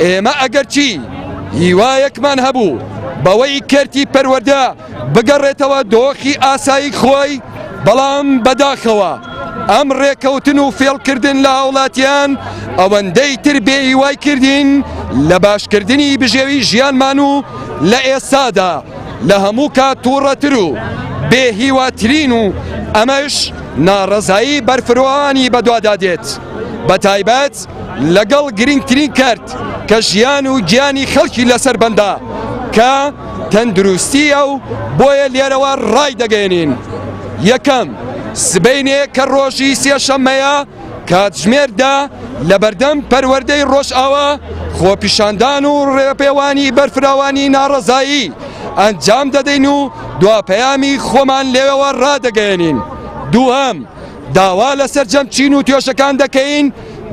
ئێمە ئەگەرچی هیوایەکمان هەبوو بەوەی کەرتی پەروەردە بگەڕێتەوە دۆخی ئاسایی خۆی، بەڵام بەداخەوە ئەم ڕێکەوتن و فێڵکردن لە هاوڵاتیان ئەوەندەی تر بێ هیوای کردین لە باشکردنی بژێوی ژیانمان و لە ئێستادا لە هەموو کات توڕەتر و بێ هیواترین و ئەمەش ناڕەزایی بەرفرۆانی بەدوادا دێت بەتایبەت لەگەڵ گرنگترین کەرت کە ژیان و گیانی خەڵکی لەسەر بەندە کە تەندروستییە و بۆیە لێرەوە ڕایدەگەیەنین یەکەم سبەینێ کە ڕۆژی سێشەممەیە کاتژمێر دە لەبەردەم پەروەردەی ڕۆژئاوا خۆپیشاندان و ڕێپێوانی بەرفراوانی ناڕەزایی ئەنجام دەدەین و دوا پەیامی خۆمان لێەوە ڕادەگەیەنین دووهەم داوا لە سەرجەم چین و توێژەکان دەکەین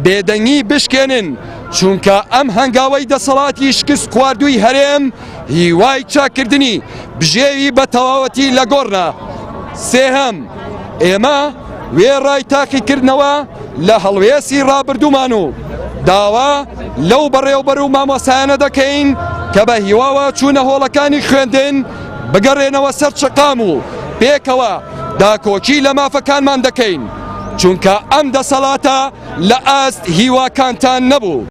بێدەنگی بشکێنن، چونکە ئەم هەنگاوەی دەسەڵاتی شکست خواردووی هەرێم هیوای چاککردنی بژێوی بە تەواوەتی لە گۆڕە. سێهەم، ئێمە وێڕای تاقیکردنەوە لە هەڵوێستی ڕابردوومان و داوا لەو بەڕێوبەر و مامۆستایانە دەکەین کە بە هیواوە چوونە هۆڵەکانی خوێندن بگەڕێنەوە سەر شەقام و پێکەوە داکۆکی لە مافەکانمان دەکەین، چونکە ئەم دەسەڵاتە لە ئاست هیواکانتان نەبوو.